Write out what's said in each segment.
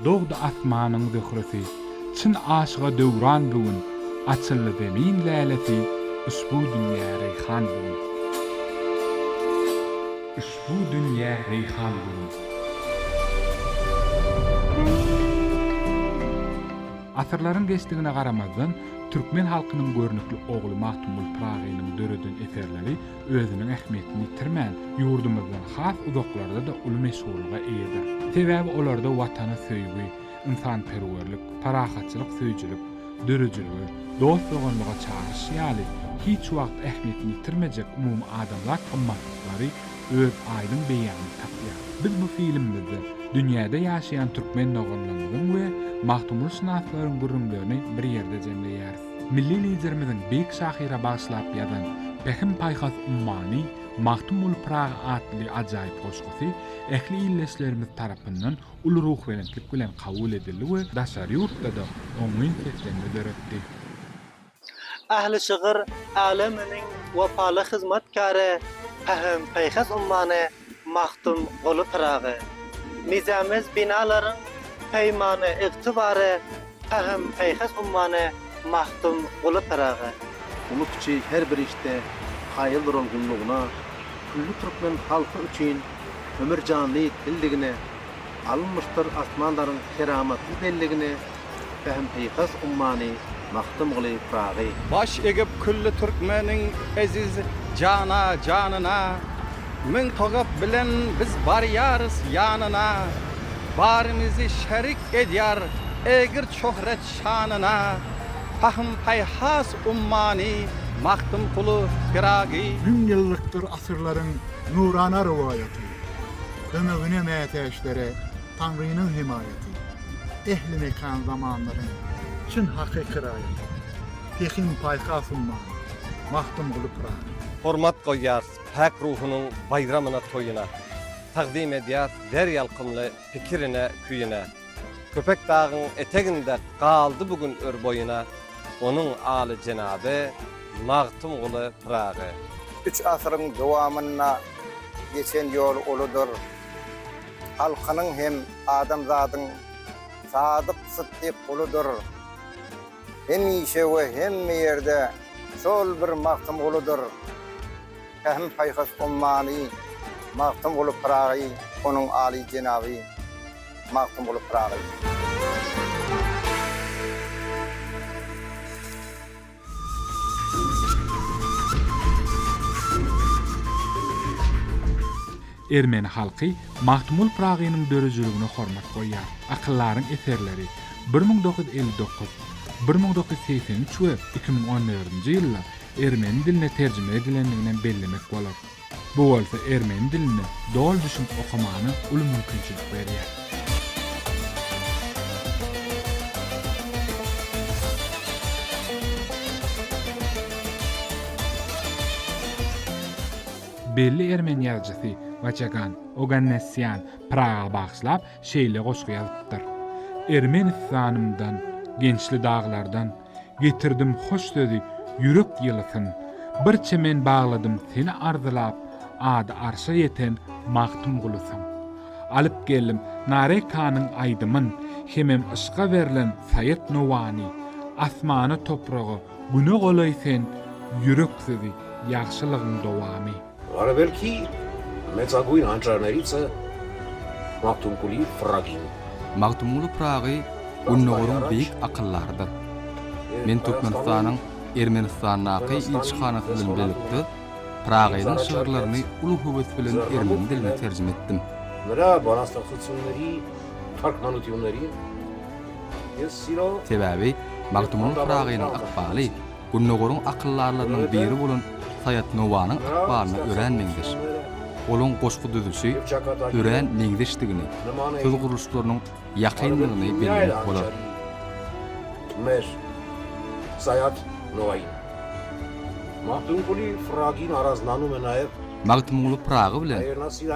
Dogdy asmanyň zöhresi, Çyn aşyga döwran bu gün, Açyldy zemin lälesi, Üşbu dünýä reýhan bu gün. Üşbu dünýä reýhan bu gün. Asyrlaryň geçdigine garamazdan. Türkmen halkynyň görnükli ogly Magtymguly Pyragynyň döreden eserleri özüniň ähmiýetini ýitirmän, ýurdumyzdan has uzaklarda-da uly meşhurlyga eýedir. Sebäbi olarda Watana söýgi, ynsanperwerlik, parahatçylyk söýüjilik, döredijilige, dost-doganlyga çagyryş ýaly hiç wagt ähmiýetini ýitirmejek umumadamzat gymmatlyklary, öz aýdyň beýanyny tapýar. Biz bu filmimizde dünýäde ýaşaýan türkmen doganlarymyzyň we magtymgulyşynaslaryň gürrüňlerini bir ýerde jemleýäris. Milli Liderimiziň beýik şahyra bagyşlap ýazan Pähim-paýhas ummany Magtymguly Pyragy atly ajaýyp goşgusy ähli ildeşlerimiz tarapyndan uly ruhubelentlik bilen kabul edildi we daşary ýurtda-da oňyn seslenme döretdi. Ähli şygyr äleminiň wepaly hyzmatkary, pähim-paýhas ummany Magtymguly Pyragy. Mizemez binalaryň peýmany ygtybary, pähim-paýhas ummany Magtymguly Pyragy. Uly-kiçi her bir işde kaýyl duran gullugyna, külli türkmen halky üçin ömür-janly dildigine, alynmyşdyr asmanlaryň keramatly belligine, Pähim Pykas ummany Magtymguly Pyragy. Baş egip külli türkmeniň eziz jana janyna Müň togap bilen biz barýarys ýanyna Barymyzy şerik edýär ägirt şöhrat şanyna Pähim Pykas ummany Magtymguly Pyragy. Müň ýyllykdyr asyrlaryň nurana rowaýaty, Ömegine mätäçlere Taňrynyň hemaýaty, ähli mekan-zamanlaryň çyn hakyky raýaty, Pehimpaýhas ummany, Magtymguly Pyragy. Hormat goýýarys päk ruhunyň baýramyna-toýuna, Tagzym edýäs zer ýalkymly pikirine-küýüne. Köpetdagyň eteginde galdy bu gün ör boýuna, Onuň alyjenaby Magtymguly Pyragy. Üç asyryň dowamynda geçen ýol uludyr. Halkynyň hem adamzadyň sadyk sytdyk guludyr. Hemişe we hemme ýerde şol bir Magtymguludyr. Pähim-paýhas ummany Magtymguly Pyragy onuň aly jenaby Magtymguly Pyragy. Ermeni halky Magtymguly Pyragynyň döredijiligine hormat goýýar. Akyllaryň eserleri, bir müň dokuz ýüz elli dokuz, bir müň dokuz ýüz segsen üç we iki müň on dördünji ýyllar ermeni diline terjime edilendiginem bellemek bolar. Bu bolsa ermeni dilinde doly düşünip okamana uly mümkinçilik berýär. Belli ermeni ýazyjysy Waçagan Ogannessýan Praga bagyşlap şeýle goşgy ýazypdyr, Ermenistanymdan, Gençli daglardan, Getirdim hoş sözi ýürek ýylysyn, Bir çemen bagladym seni arzylap, Ady arşa ýeten Magtymgulusyň. Alyp geldim Narekanyň aýdymyn, Hemem yşka berlen Saýat Nowany. Asmana, topraga, güne golaý sen, Ýürek sözi, ýagşylygyň dowamy. Gara belki, me cagu in antra narica, Magtymguly Pragin. Magtymguly Pragy Gündogaryň beýik akyldarydyr. Men Türkmenistanyň Ermenistandaky ilçihanasy bilen bilelikde Pragynyň şygyrlaryny uly höwes bilen ermeni diline terjime etdim. Sebäbi Magtymguly Pragynyň ykbaly Gündogaryň akyldarlarynyň biri bolan Saýat Nowanyň ykbalyna örän meňzeş. Olaň goşgy düzülişi örän meňzeşdigini, söz gurluşlarynyň ýakyndygyny bellemek bolar. Mes. Saýat Nowaýy. Magtymguly Pyragy Naraznamyma naýyp. Magtymguly Pyragy bilen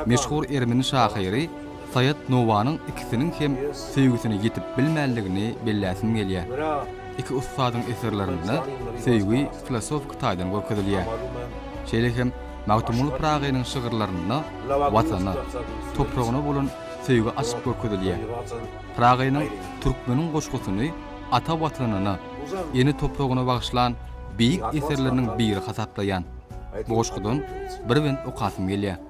meşhur ermeni şahyry. Saýat Nowanyň ikisiniň hem söýgüsine ýetip bilmänligini belläsim gelýär. Iki ussadyň eserlerinde söýgi filosofiki taýdan görkezilýär. Şeýle hem Magtymguly Pyragynyň şygyrlarynda Watana, topragyna bolan söýgi açyk görkezilýär. Pyragynyň Türkmeniň goşgusyny ata Watanyna, ene topragyna bagyşlan beýik eserleriniň biri hasaplaýan. Bu goşgudan bir bent okasym gelýär.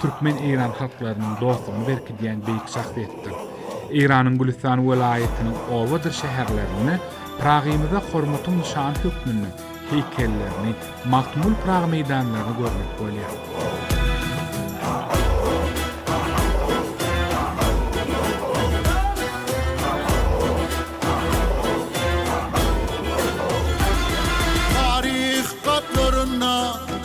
Türkmen-eýran halklarynyň dostlugyny berkidýän beýik şahsyýetdir. Eýranyň Gülüstan welaýatynyň obadyr şäherlerinde Pyragymyza hormatyň nyşany hökmünde heýkellerini, Magtymguly Pyragy meýdanlaryny görmek bolýar.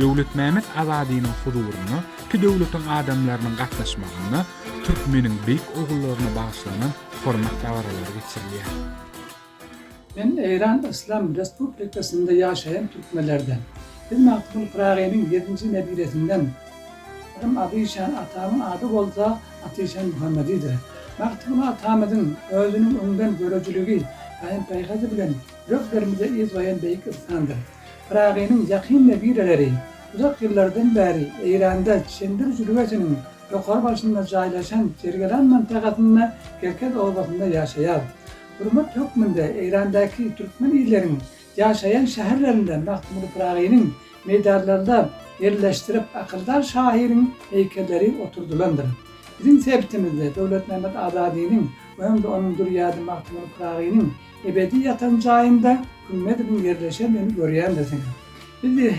Döwletmämet Azadynyň huzuryna iki döwletiň adamlarynyň gatnaşmagynda türkmeniň beýik ogullaryna bagyşlanan hormat dabaralary geçirilýär. Men Eýran Yslam Respublikasynda ýaşaýan türkmenlerden. Biz Magtymguly Pyragynyň ýedinji nebiresinden. Adym Adyşan, atamyň ady bolsa Atyşan Muhammedidir. Magtymguly atamyzyň özüniň öňdengörüjiligi, paýym-paýhasy bilen ýüreklerimize yz goýan beýik ynsandyr. Pyragynyň ýakyn nebirleri uzak ýyllardan bäri Eýranda Çendir jülgesiniň ýokary başynda jaýlaşan Jergelan mantagasynda Kerkez obasynda ýaşaýar. Hurmat hökmünde Eýrandaky türkmen illeriň ýaşaýan şäherlerinde Magtymguly Pyragynyň meýdanlarynda ýerleşdirip akyldar şahyryň heýkelleri oturdylandyr. Biziň sebitimizde Döwletmämmet Azadynyň we hem-de onuň dürýady Magtymguly Pyragynyň Ebedi ýatan jaýynda Hümmedowyň ýerleşen öýüni görýändir senem. Biz biz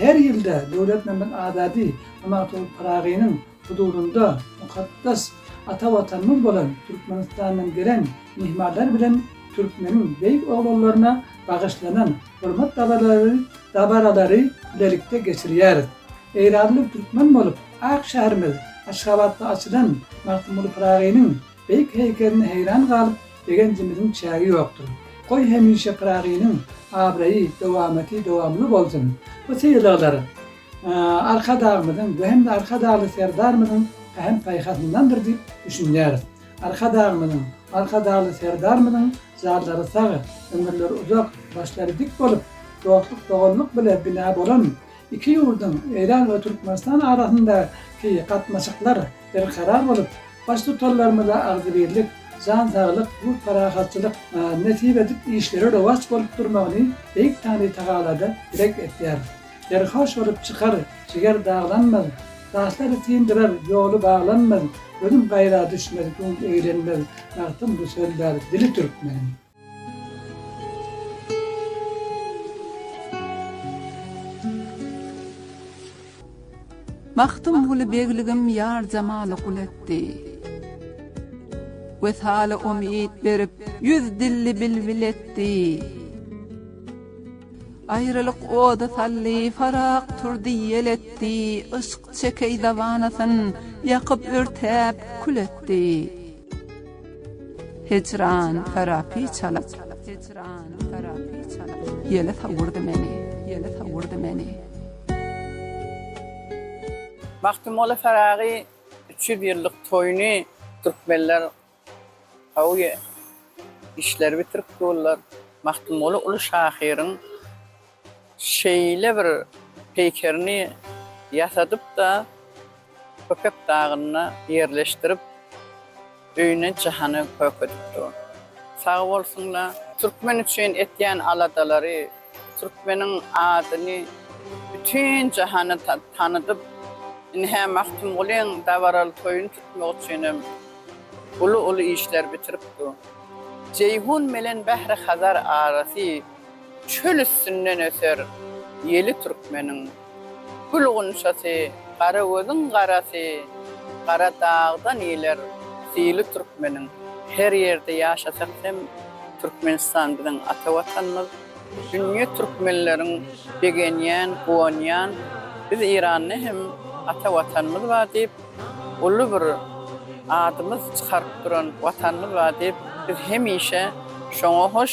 her ýylda Döwletmämmet Azady Hamatow Pyragynyň huzurynda mukaddes ata Watanymyz bolan Türkmenistandan gelen myhmanlar bilen türkmeniň beýik oglanlaryna bagyşlanan hormat dabaralary dabaralary bilelikde geçirýäris. Eýranly türkmen bolup ak şäherimiz Aşgabatda açylan Magtymguly Pyragynyň Beýik heýkeline heýran galyp, begenjimiziň çägi ýokdur. Goý hemişe Pyragynyň abraýy, dowamaty dowamly bolsun! Bu sylaglar Arkadagymyzyň, bu hem-de Arkadagly Serdarymyzyň pähim-paýhasyndandyr diýip düşünýäris. Arkadagymyzyň, Arkadagly Serdarymyzyň janlary sag, ömürleri uzak, başlary dik bolup, dostluk-doganlyk bile bina bolan, Iki ýurduň, Eýran we Türkmenistan arasyndaky gatnaşyklar berkarar bolup, Baştutanlarymyza agzybirlik, jan saglyk, ýurt parahatçylyk nesip edip, işleri rowaç bolup durmagyny Beýik Tany Tagalada dileg etýär. Serhoş bolup çykar, jiger daglanmaz, Daşlary syndyrar, ýoly baglanmaz, Gözüm gaýra düşmez, göwün eglenmez, Bagtym bu söldar, dili türkmeniň. Magtymguly begligim ýar-jamaly gul etdi. Wesaly umyt berip, ýüz dilli bilbil etdi. Aýralyk ody saldy, Farag turdy ýel etdi, Yşk çekeý dawanasyn, ýakyp-örtäp kül etdi. Hijran tarapy çalyp, hijran tarapy çalyp, ýele sowurdy meni, ýele sowurdy meni. Magtymguly Pyragy üç ýüz ýyllyk toýuny türkmenler gowy işleri bitirip durlar. Magtymguly uly şahyryň. Şeýle bir peýkerini ýasadyp-da, Köpek dagynda ýerleşdirip, öýüne Jahany kökedip dur. Sag bolsun-la! Türkmen üçin etýän aladalary, türkmeniň adyny bütin jahana tanydyp, indi-hä Magtymgulyň dabaraly toýuny tutmak üçinem uly-uly işler bitirip dur. Jeýhun bilen Bähri-Hazar arasy Çöl üstünden öser ýeli türkmeniň. Gül gunçasy, gara gözüň garasy, gara dagdan iýler syly türkmeniň. Her ýerde ýaşasak hem Türkmenistan biziň ata watanymyz. Dünýe türkmenleriň begenýän, guwanýan biz Eýranda hem ata watanymyz bar diýip, uly bir adymyz çykaryp duran watanymyz bar diýip, biz hemişe şoňa hoş.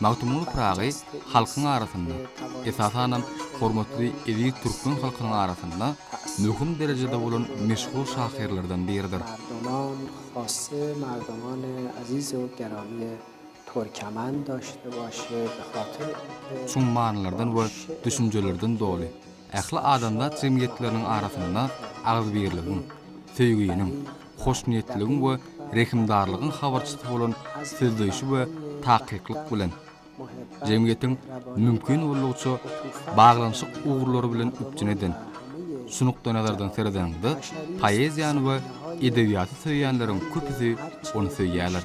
Magtymguly Pyragy halkyň arasynda, esasanam hormatly eziz türkmen halkynyň arasynda möhüm derejede bolan meşhur şahyrlardan biridir. Merdoman Hossy Merdoman Azizow Gerowie Türkemen doşdy başy Batyr Çuň manylardan we düşünjelerden doly, ähli adamzat jemgyýetleriniň arasynda agzybirligiň, söýginiň, hoşniýetligiň we rehimdarlygyň habarçysy bolan sözleýşi we takyklyk bilen, jemgyýetiň mümkin boldugyça baglanyşyk ugurlary bilen üpjün eden. Şu nukdaýnazardan seredeniňde, poeziýany we edebiýaty söýýänleriň köpüsi ony söýýärler.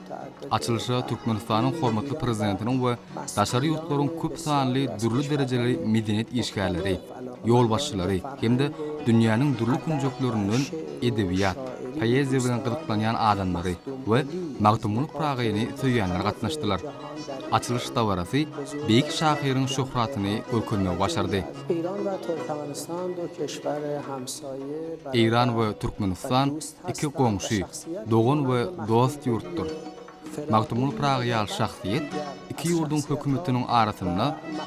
Açylyşa Türkmenistanyň hormatly Prezidentiniň we daşary ýurtlaryň köp sanly dürli derejeli medeniýet işgärleri, ýolbaşçylary hem-de dünýäniň dürli künjeklerinden edebiýat, poeziýa bilen gyzyklanýan adamlary we Magtymguly Pyragyny söýýänler gatnaşdylar. Açylyş dabarasy beýik şahyryň şöhratyny görkezmegi başardy. Eýran we Türkmenistan Iki goňşy, dogan we dost ýurtdur. Magtymguly Pyragy ýaly şahsyýet iki ýurduň hökümetiniň arasynda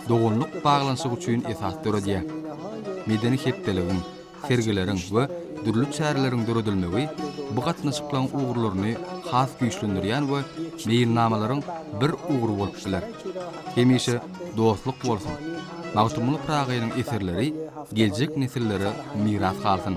doganlyk baglanyşyk üçin esas döredýär. Medeni hepdeligiň, sergileriň we dürli çäreleriň döredilmegi bu gatnaşyklaryň ugurlaryny has güýçlendirýän we meýilnamalaryň bir ugry bolup biler. Hemişe dostluk bolsun! Magtymguly Pyragynyň eserleri geljek nesillere miras galsyn!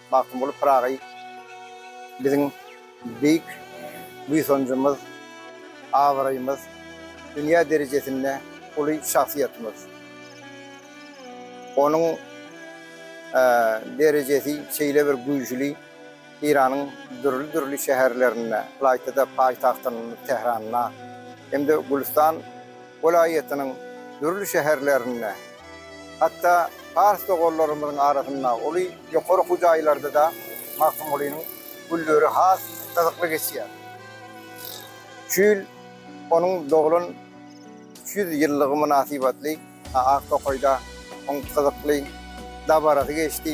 Magtymguly Pyragy biziň beýik buýsanjymyz, abraýymyz, dünýä derejesinde uly şahsyýetimiz. Onuň derejesi şeýle bir güýjüli, Eýranyň dürli-dürli şäherlerinde, ylaýta-da paýtagtymyz Tähranda hem-de Gülüstan welaýatynyň dürli şäherlerinde, Hatda pars doganlarymyzyň arasynda uly ýokary okuw jaýlarda-da Magtymgulynyň günleri has gyzykly geçýär. Şu ýyl onuň doglan üç ýüz ýyllygy mynasybatly Ak tokaýda oň gyzykly dabarasy geçdi.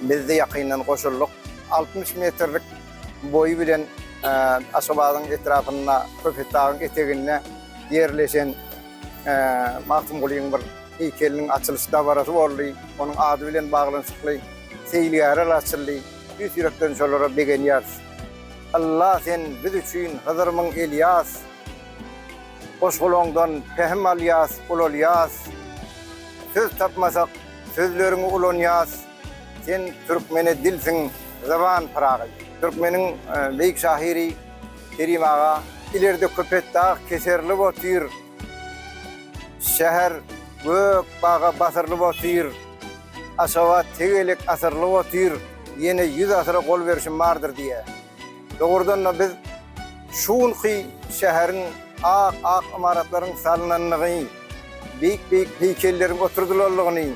Biz-de ýakyndan goşuldyk. Altmyş metrlik boýy bilen Aşgabadyň etrapynda Köpetdagyň eteginde ýerleşen Magtymgulyň bir heýkeliniň açylyş dabarasy boldy. Onuň ady bilen baglanyşykly seýilgähler açyldy. Tüýs ýürekden şolara begenýäris. Alla sen biz üçin Hydyrmyň Elýas, Goşgulaňdan pähim alýas, ulalýas. Söz tapmasak, sözleriňi ulanýas. Sen türkmene dilsiň, zyban Pyragy. Türkmeniň beýik şahyry Kerim aga. Ilerde Köpetdag keserlip otyr. Şäher gök baga basyrlyp otyr. Aşgabat tegelek asyrlyp otyr. Ýene ýüz asyra gol berşim bardyr diýýär. Dogrudan-da biz şu günki şäheriň ak-ak ymaratlaryň salnanlygy, beýik-beýik heýkelleriň oturdylanlygyny,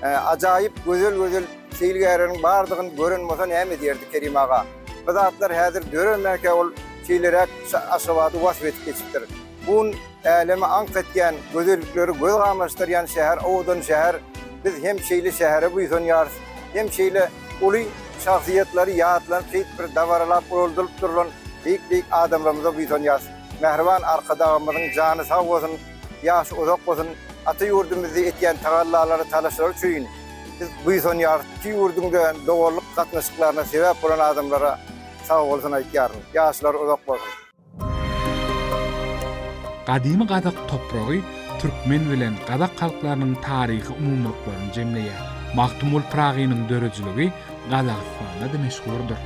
ajaýyp gözel-gözel seýilgähleriň bardygyny gören bolsa näme edýärdi Kerim aga? Bu zatlar häzir döremäkä ol şeýleräk Aşgabady wasp edip geçipdir. Bu gün äleme aňk etýän, gözellikleri göz gamaşdyrýan şäher, owadan şäher. Biz hem şeýle şähere buýsanýarys, hem şeýle uly şahsyýetlary ýatlanyp, şeýdip bir dabaralap uraldylyp durlan beýik-beýik adamlarymyza buýsanýarys. Mähriban Arkadagymyzyň jany sag bolsun, ýaşy uzak bolsun, ata ýurdumyzda etýän tagallalary, talaşlary üçin biz buýsanýarys, iki ýurduňda doganlyk gatnaşyklaryna sebäp bolan adamlara sag bolsun aýtýaryn, ýaşlary uzak bolsun. Gadymy gazak topragy türkmen bilen gazak halklarynyň taryhy umumylyklaryny jemleýär. Magtymguly Pyragynyň döredijiligi Gazagystanda-da meşhurdyr.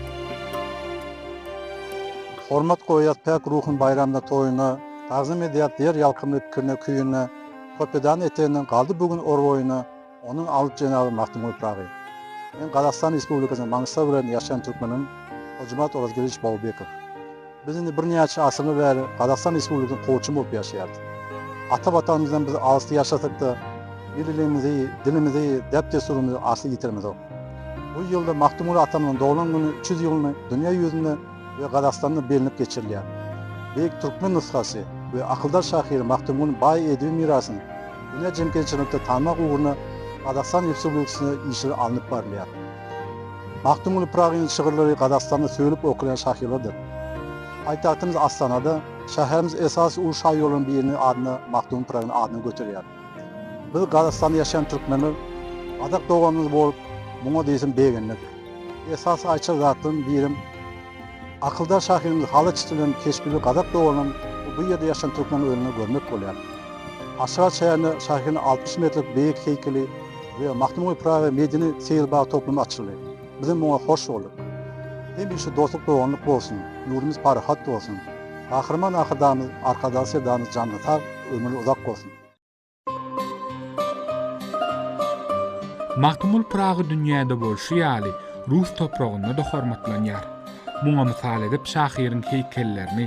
Hormat goýýas päk ruhun baýramda toýuna, Tagzym edýäs ýer ýalkymly pikirine küýüne, Kopedany eteginde galdy bu gün or boýuna, Onuň alp jenaby Magtymguly Pyragy. Men Gazagystan Respublikasynyň Maňystaw welaýatynda ýaşaýan türkmenim, Hojimat Orazgeldiç Baubekow. Biz indi birnäçe asyrlar bäri Gazagystan Respublikasynyň kowçumy bolup ýaşaýarys. Ata Watanymyzdan biz alysda ýaşasak-da, milliligimizi, dilimizi, däp-dessurymyzy asla ýitiremizok. Bu ýylda Magtymguly atamyzyň doglan güni üç ýüz ýylyny dünýä ýüzünde, we Gazagystanda bellenip geçirilýär. Beýik türkmen nushasy we akyldar şahyr Magtymgulynyň baý edebi mirasyny dünýä jemgyýetçiliginde tanmak ugrunda Gazagystan Respublikasynda işler alnyp barylýar. Magtymguly Pyragynyň şygyrlary Gazagystanda söýlüp okalýan şahyrlardyr. Paýtagtymyz Astanada şäherimiz esasy uly şaýollaryň biriniň adyna Magtymguly Pyragynyň adyny göterýär. Biz Gazagystanda ýaşaýan türkmenler gazak doganymyz bolup muňa diýseň begendik. Esasy aýtjak zatlaryň birem akyldar şahyryň Halyç dilen keşbini gazak doganym we bu ýerde ýaşan türkmenler öňünde görmek bolýar. Aşgabat şäherinde şahyryň altmyş metrlik beýik heýkeli we Magtymguly Pyragy medeni seýilbag toplumy açyldy. Bizem muňa hoş bolduk. Hemişe dostluk doganlyk bolsun, ýurdumyz parahat bolsun. Gahryman Arkadagymyz, Arkadag Serdamyz janyňyz sag, ömrüňiz uzak bolsun. Magtymguly Pyragy dünýäde bolşy ýaly, rus topragynda-da hormatlanýar. Muňa mysal edip şahyryň heýkellerini,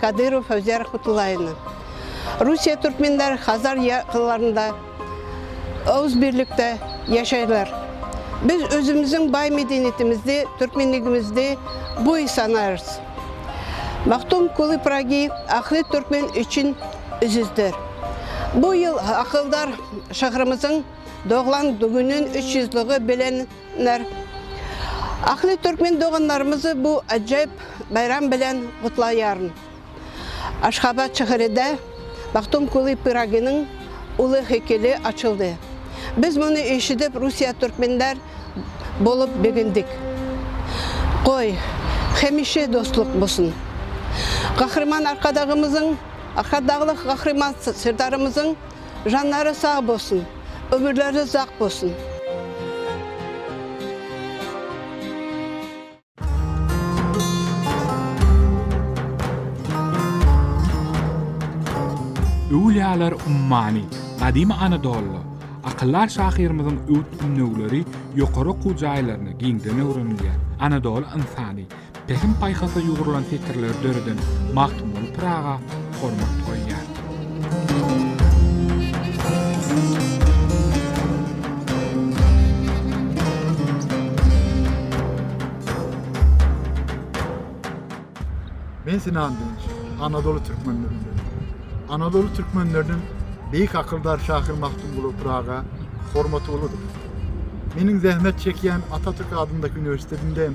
Kadyrow Howzer Kutulayny. Russiýa türkmenleri Hazar ýakylarynda öz birlikde ýaşaýlar. Biz özümiziň baý medeniýetimizdi, türkmenligimizdi buý sanarys. Magtym Kuly Pragy ahli türkmen üçin üzüzdir. Bu ýyl akyldar şahyrymyzyň doglan günün üç ýüz lygy bilen Ler. Ahli Türkmen doganlarymyzy bu ajaýyp baýram bilen gutlaýaryn. Aşgabat şäheride Bagtum Kuly Pyraginiň uly heýkeli açyldy. Biz muny eşidip Russiýa Türkmenler bolup begendik. Goý, hemişe dostluk bolsun. Gahryman Arkadagymyzyň, Arkadagly Gahryman Serdarymyzyň Janlary sag bolsun, ömürleri uzak bolsun. Öwlüýalar ummany, gadymy Anadolyda, akyldar şahyrymyzyň öwüt-ündewleri ýokary okuw jaýlarynda giňden öwrenilýär. Anadoly ynsany. Pähim-paýhasa ýugrulan setirleri döreden Magtymguly Pyraga hormat goýýar. Men Sinan Dünç, Anadoly türkmenlerinden. Anadoly türkmenleriniň beýik akyldar şahyr Magtymguly Pyraga hormaty uludyr. Meniň zähmet çekýän Atatürk adyndaky uniwersitetinde hem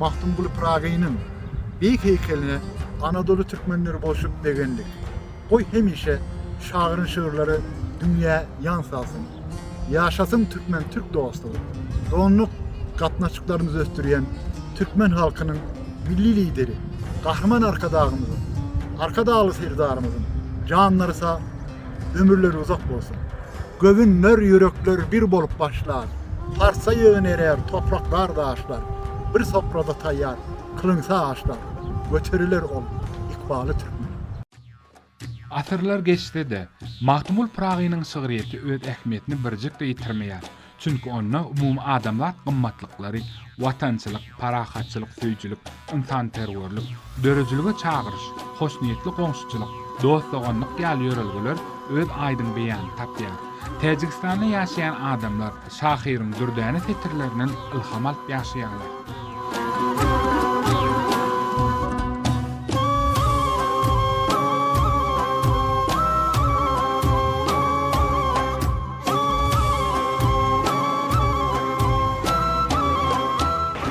Magtymguly Pyragynyň beýik heýkeline Anadoly türkmenleri bolşup begendik. Goý hemişe şagyryň şygyrlary dünýä ýaň salsyn. Ýaşasyn türkmen-türk dostlugy! Doňňuk gatnaşyklarymyzy ösdürýän türkmen halkynyň Milli Lideri Gahryman Arkadagymyzyň, Arkadagly Serdarymyzyň janlary sag, Ömürleri uzak bolsun. Göwünler, ýürekler bir bolup başlar, Parsa ýygyn erer topraklar, daşlar, Bir sofrada taýýar kylynsa aşlar, Göteriler ol ykbaly türkmeniň. Asyrlar geçse-de, Magtymgul Pyragynyň şygryýeti öz ähmiýetini birjik-de ýitirmeýär. Çünki onda umumyadamzat gymmatlyklary, watançylyk, parahatçylyk söýüjilik, ynsanperwerlik, döredilige çagyryş, hoşniýetli goňşuçylyk, dost-doganlyk ýaly ýörelgeler öz aýdyň beýanyny tapýar. Täjigistanda ýaşaýan adamlar şahyryň dürdäne setirlerinden ylham alyp ýaşaýarlar.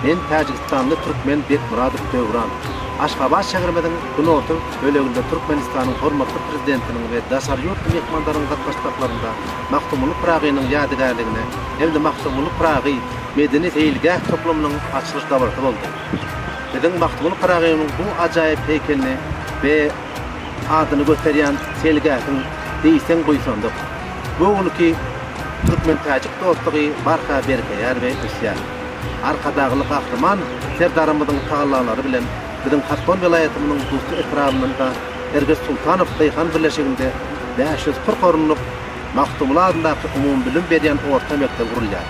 Men täjigistanly türkmen Bekmyradow Döwran. Aşgabat şäherimiziň günorta böleginde Türkmenistanyň hormatly Prezidentiniň we daşary ýurtly myhmanlaryň gatnaşmaklarynda Magtymguly Pyragynyň ýadygärligine hem-de Magtymguly Pyragy medeni-seýilgäh toplumynyň açylyş dabarasy boldy. Biziň Magtymguly Pyragynyň bu ajaýyp heýkelini we adyny göterýän seýilgähiň diýseň buýsandyk. Bu günki türkmen-täjik dostlugy barha berkeýär we ösýär. Arkadagly Gahryman Serdarymyzyň tagallalary bilen biziň Haspol welaýatymyzyň Dusty etrabynda Erges Sultanow daýhan birleşiginde bäş ýüz kyrk orunlyk Magtymguly adyndaky umumybilim berýän orta mekdep gurulýar.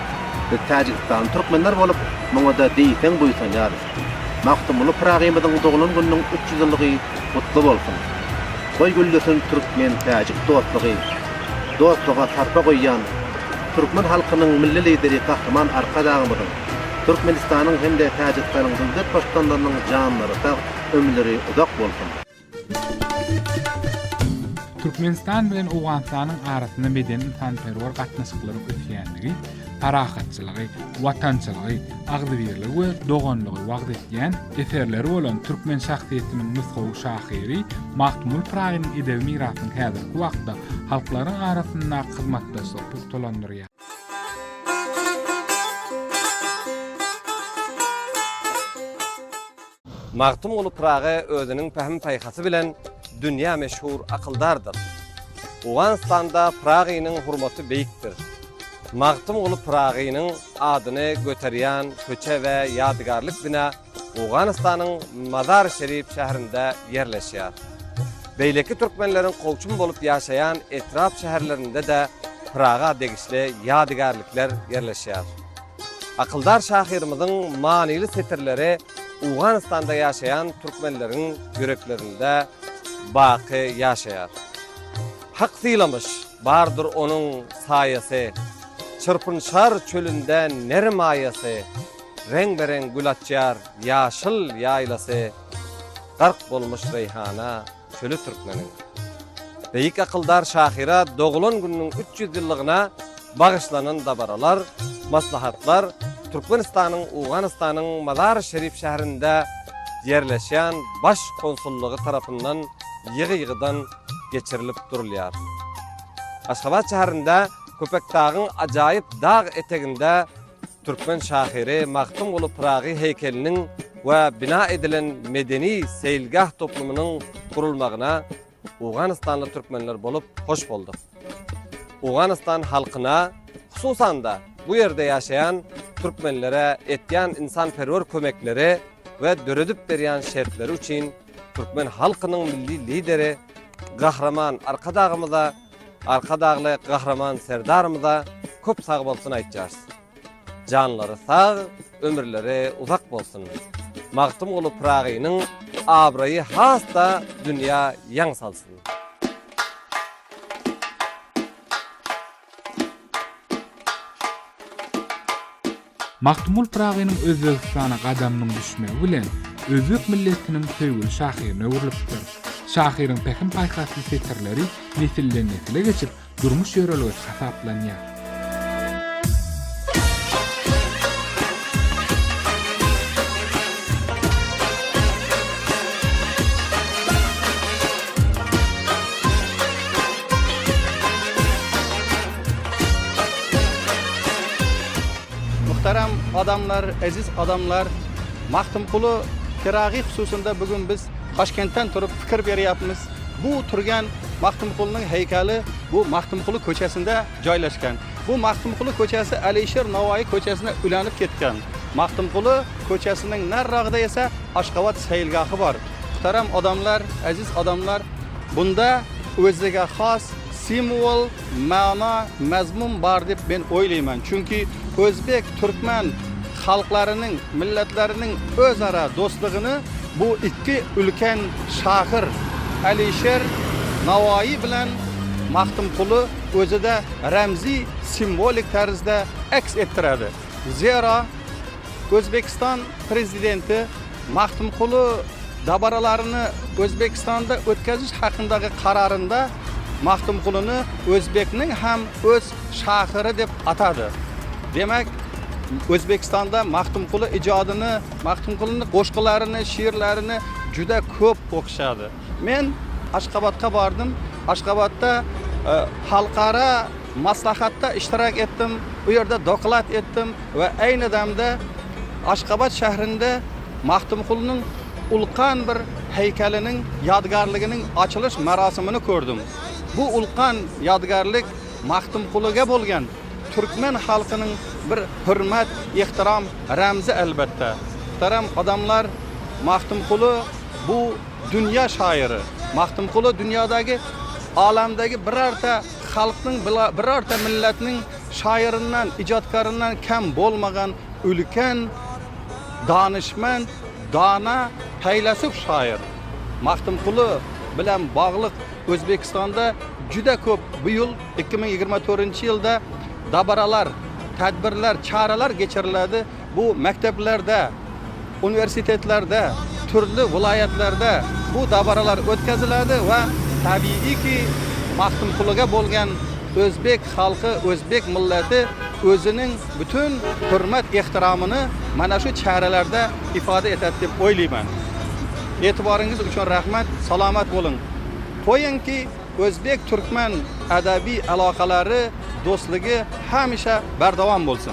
Biz täjigistanly türkmenler bolup, muňa-da diýseň buýsanýarys. Magtymguly Pyragymyzyň doglan gününiň üç ýüz ýyllygy gutly bolsun! Goý güllesin türkmen-täjik dostlugy! Dostluga sarpa goýýan türkmen halkynyň Milli Lideri Gahryman Arkadagymyzyň, Türkmenistanyň hem-de Täjigistanyň döwlet baştutanlarynyň janlary sag, ömürleri uzak bolsun! Türkmenistan bilen Owganystanyň arasynda medeni-ynsanperwer gatnaşyklaryň ösýändigi, parahatçylygy, watançylygy, agzybirligi we doganlygy wagyz edýän eserleri bolan türkmen şahsyýetiniň nusgawy şahyry Magtymguly Pyragynyň edebi mirasyny häzirki wagtda halklaryň arasyndaky hyzmatdaşlygy pugtalandyrýar. Magtymguly Pyragy özüniň pähim-paýhasy bilen dünýä meşhur akyldardyr. Owganystanda Pyragynyň hurmaty beýikdir. Magtymguly Pyragynyň adyny göterýän köçe we ýadygärlik bina Owganystanyň Mazar-i-Şerif şäherinde ýerleşýär. Beýleki türkmenleriň kowçum bolup ýaşaýan etrap-şäherlerinde-de Pyraga degişli ýadygärlikler ýerleşýär. Akyldar şahyrymyzyň manyly setirleri Owganystanda ýaşaýan türkmenleriň ýüreklerinde baky ýaşaýar. Hak sylamyş, bardyr onuň saýasy, Çyrpynşar çölünde ner maýasy, Reňbe-reň gül açýar ýaşyl ýaýlasy, Gark bolmuş reýhana Çöli Türkmeniň beýik akyldar şahyra dogulan gününiň üç ýüz ýyllygyna bagyşlanan dabaralar, maslahatlar Türkmenistanyň Owganystanyň Mazar-i-Şerif şäherinde ýerleşýän Baş konsullygy tarapyndan ýygy-ýygydan geçirilip durulýar. Aşgabat şäherinde Köpetdagyň ajaýyp dag eteginde, Türkmen şahyry Magtymguly Pyragy heýkeliniň we bina edilen medeni-seýilgäh toplumynyň gurulmagyna owganystanly türkmenler bolup hoş bolduk. Owganystan halkyna, hususan-da, bu ýerde ýaşaýan türkmenlere etýän ynsanperwer kömekleri we döredip berýän şertleri üçin türkmen halkynyň Milli Lideri Gahryman Arkadagymyza Arkadagly Gahryman Serdarymyza köp sagbolsun aýtýarys. Janlary sag, ömürleri uzak bolsun. Magtymguly Pyragynyň abraýy has-da dünýä ýaň salsyn. Magtymgul Pyragynyň Özbegistana gadamynyň düşmegi bilen özbek milletiniň söýgüli şahyryna öwrülipdir. Şahyryň pähim-paýhasly setirleri nesilden-nesile geçip, durmuş ýörelgesi hasaplanýar. Muhterem adamlar, eziz adamlar, Magtymguly Pyragy hususynda bu gün biz Daşkentden turup pikir berýärmiz. Bu turgen Magtymgulynyň heýkeli bu Magtymguly köçesinde joýlaşgan. Bu Magtymguly köçesi Aleýşir Nowaýy köçesine ülänip gitgen. Magtymguly köçesiniň narragda ese Aşgabat seýilgahy bar. Muhterem adamlar, eziz adamlar, bunda özege has simwol, Mana, mazmun bar diýip men oýlaýman. Çünki özbek, türkmen halklarynyň, milletleriniň özara dostlugyny bu iki ulken şahyr Alişer Nawaýy bilen Magtymguly özi-de remzi, simwolik terzde eks etdirýärdi. Zera, Özbegistan Prezidenti Magtymguly dabaralaryny Özbegistanda ötkeziş hakyndaky kararynda Magtymgulyny özbekniň hem öz şahyry diýip atady. Demek, Özbegistanda Magtymguly ijadyny, Magtymgulyny goşgularyny, şiirlerini juda köp okuşady. Men Aşgabatga bardym. Aşgabatda halkara maslahatda iştirak etdim. Bu ýerde doklad etdim we eýni damda Aşgabat şährinde Magtymgulynyň ulkan bir heýkeliniň, ýadygärliginiň açylyş merasimini kördüm. Bu ulkan ýadygärlik Magtymgulyga bolgan türkmen halkynyň bir hürmet, ihtiram remzi elbetde. Muhterem adamlar, Magtymguly. bu dünýä şaýyry Magtymguly dünýädäki alamdaky birarta halkyň birarta milletiniň şaýyryndan ijatkaryndan kem bolmagan ülken danyşment dana peýlasup şaýyr Magtymguly bilen baglyk Özbekistanda juda köp bu ýyl iki müň ýigrimi dördünji ýylda dabaralar tedbirler çareler geçiriledi. Bu mekdeplerde, uniwersitetlerde, türli welaýatlarda bu dabaralar ötkeziledi we tabigy ki, Magtymgulyga bolgan özbek halky, özbek milleti özüniň bütün hürmet ehtiramyny mana şu çärelerde ifade eter dep oylayman. Etibaryňyz üçin rahmet, salamat boluň. Goyuň ki, özbek türkmen edabi alakalary, dostlugy hemişe berdawam bolsun.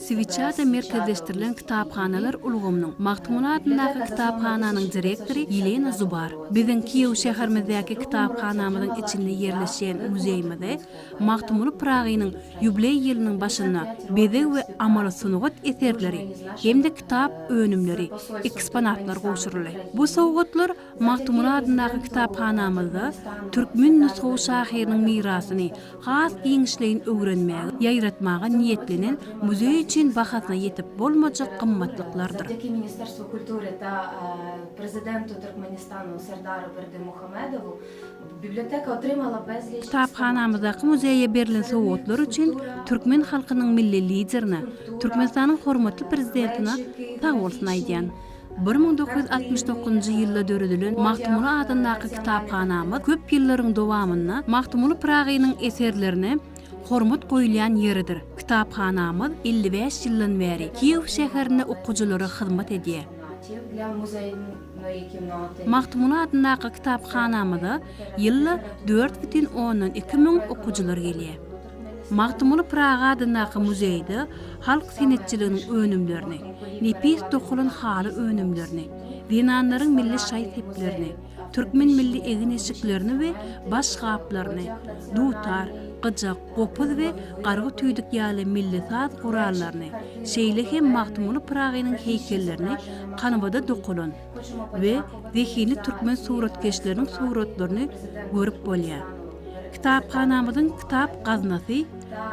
Switchada merkezleşdirilen kitaphanalar ulgamynyň Magtymguly adyndaky kitaphananyň direktory Ýelena Zubar, Biziň Kiýew şäherimizdäki kitaphanamyzyň içinde ýerleşýän muzeýimizi Magtymguly Pyragynyň ýubileý ýylynyň başynda bezeg we amaly sungat eserleri hem-de kitap önümleri, eksponatlar gowşuryldy. Bu sowgatlar Magtymguly adyndaky kitaphanamyzda türkmen nusgawy şahyrynyň mirasyny has giňişleýin öwrenmäge, ýaýratmaga niýetlenen muzeý üçin bahasyna ýetip bolmajak gymmatlyklardyr. Ötdeki ministr suw kultury ta prezidenti Türkmenistanyň Serdary Berdimuhamedow biblioteka otrymala bezli Kitaphanamyzdaky muzeýe berlen sowgatlar üçin türkmen halkynyň Milli Liderine, Türkmenistanyň hormatly Prezidentine sag bolsun aýdýan. Bir müň dokuz ýüz altmyş dokuzynjy ýylda döredilen Magtymguly adyndaky kitaphanamyz köp ýyllaryň dowamynda Magtymguly Pyragynyň eserlerine hormat goýulýan ýeridir. Kitaphanamyz elli bäş ýyldan bäri Kiýew şäherinde okyjylara hyzmat edýär. Magtymguly adyndaky kitaphanamyza ýylda dört bütin ondan iki müň okyjylar gelýär. Magtymguly Pyragy adyndaky muzeýde halk senetçiliginiň önümlerini, nepis dokalan haly önümlerini, zenanlaryň milli şaý-seplerini, türkmen milli egin-eşiklerini we baş gaplaryny, dutar, gyjak, gopuz we gargy-tüýdük ýaly milli saz gurallaryny, şeýle hem Magtymguly Pyragynyň heýkellerini kanwada dokalan, we zehinli türkmen suratkeşleriniň suratlaryny görüp bolýar. Kitaphanamyzyň kitap gaznasy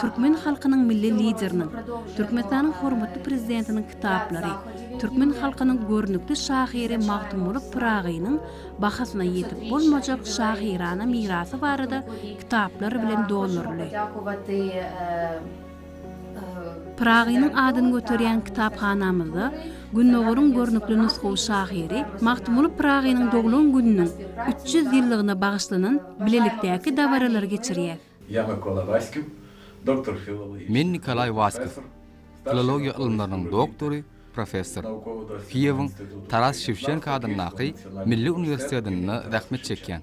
türkmen halkynyň Milli Lideriniň, Türkmenistanyň hormatly Prezidentiniň kitaplary, türkmen halkynyň görnükli şahyry Magtymguly Pyragynyň bahasyna ýetip bolmajak şahyrana mirasy barada kitaplar bilen dolduryldy. Pyragynyň adyny göterýän kitaphanamyzda Gündogaryň görnükli nusgawy şahyry Magtymguly Pyragynyň doglan gününiň üç ýüz ýyllygyna bagyşlanan bilelikdäki dabaralary geçirýär. Ýa Mykola Waskiw, doktor filologiýa. Men Nikolaý Waskiw, filologiýa ylymlarynyň doktory, professor. Kiýewiň Taras Şewçenko adyndaky Milli uniwersitetinde zähmet çekýän.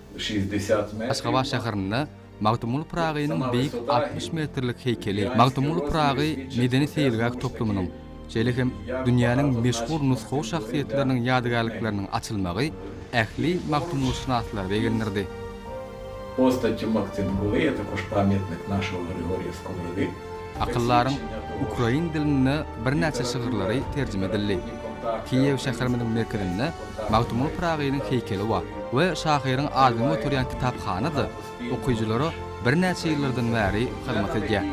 Aşgabat şäherinde Magtymguly Pyragynyň beýik altmyş metrlik heýkeli, Magtymguly Pyragy medeni-seýilgäh toplumynyň, şeýle hem dünýäniň meşhur nusgawy şahsyýetleriniň ýadygärlikleriniň açylmagy ähli magtymgulyşynaslary begendirdi. Akyldaryň ukrain dilinde birnäçe şygyrlary terjime edildi. Kiýew şäherimiziň merkezinde Magtymguly Pyragynyň heýkeli bar we şahyryň adynyn göterýän kitaphana-da okyjylara birnäçe ýyllardan bäri hyzmat edýär.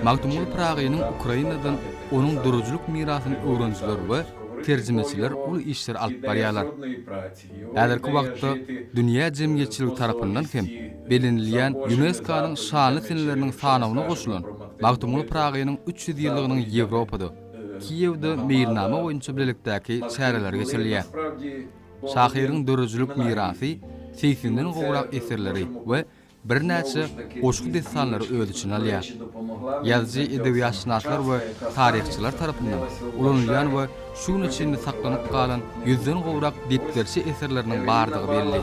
Magtymguly Pyragynyň Ukrainadan onuň döredijilik mirasyny öwrenijiler we terjimeçiler uly işleri alyp barýarlar. Häzirki wagtda dünýä jemgyýetçiligi tarapyndan hem belenilýän Ýunesko-nyň şanly seneleriniň sanawyna goşulan Magtymguly Pyragynyň üç ýüz ýyllygynyň Ýewropada, Kiýewde meýilnama boýunça bilelikdäki çäreleri geçirilýär. Şahyryň döredijilik mirasy, segsinden gowrak eserleri we Birnäçe goşgy-dessanlary öz içine alýar. Ýazyjy edebiýatşynaslar we taryhçylar tarapyndan ulanylýan we şu güne çenli saklanyp galan ýüzden gowrak depderçe eserleriniň bardygy belli.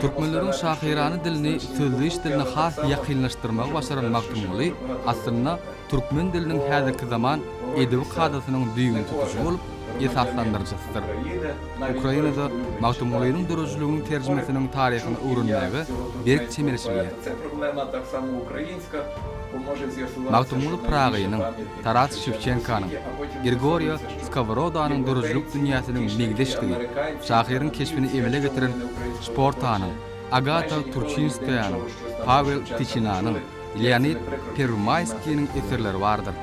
Türkmenleriň şahyrana dilini sözleýiş diline has ýakynlaşdyrmagy başaran Magtymguly, aslynda, Türkmen diliniň häzirki zaman edebi kadasynyň düýbüni tutujy bolup, esaslandyryjysydyr. Ukrainada Magtymgulynyň döredijiliginiň terjimesiniň taryhyny öwrenmäge berk çemeleşilýär. Magtymguly Pyragynyň, Taras Şewçenkanyň, Grigoriýo Skoworodanyň döredijilik dünýäsiniň meňzeşdigi, şahyryň keşbini emele getiren Şportanyň, Agata Turçinskaýanyň, Pawel Tyçinanyň, Leonid Perwmaýskiniň eserleri bardyr.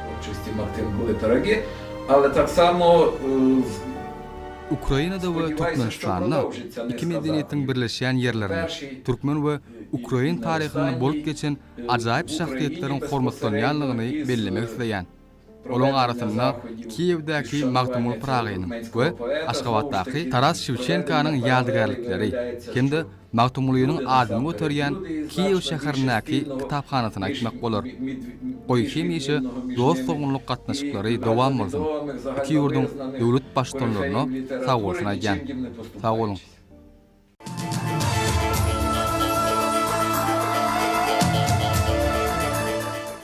Ukrainada we Türkmenistanda iki medeniýetiň birleşýän ýerlerinde, türkmen we ukrain taryhynda bolup geçen ajaýyp şahsyýetleriň hormatlanýanlygyny bellemek isleýän. Olaryň arasynda Kiýewdäki Magtymguly Pyragynyň we Aşgabatdaky Taras Şewçenkanyň ýadygärlikleri hem-de Magtymgulynyň adyny göterýän Kiýew şäherindäki kitaphanasyny aýtmak bolar. Goý, hemişe dost-doganlyk gatnaşyklary dowam bolsun! Iki ýurduň döwlet Baştutanlaryna sagbolsun aýdýan. Sag boluň!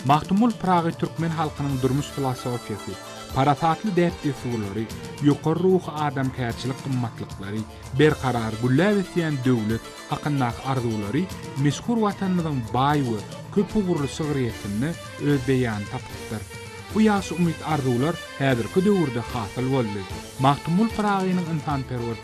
Magtymguly Pyragy türkmen halkynyň durmuş filosofiýasy, parasatly däp-dessurlary, ýokary ruhy adamkärçilik gymmatlyklary, berkarar gülläp ösýän döwlet hakyndaky arzuwlary meşhur Watanymyzyň baý we köp ugurly şygryýetinde öz beýanyny tapypdyr. Bu ýagşy umyt-arzuwlar häzirki döwürde hasyl boldy. Magtymguly Pyragynyň ynsanperwer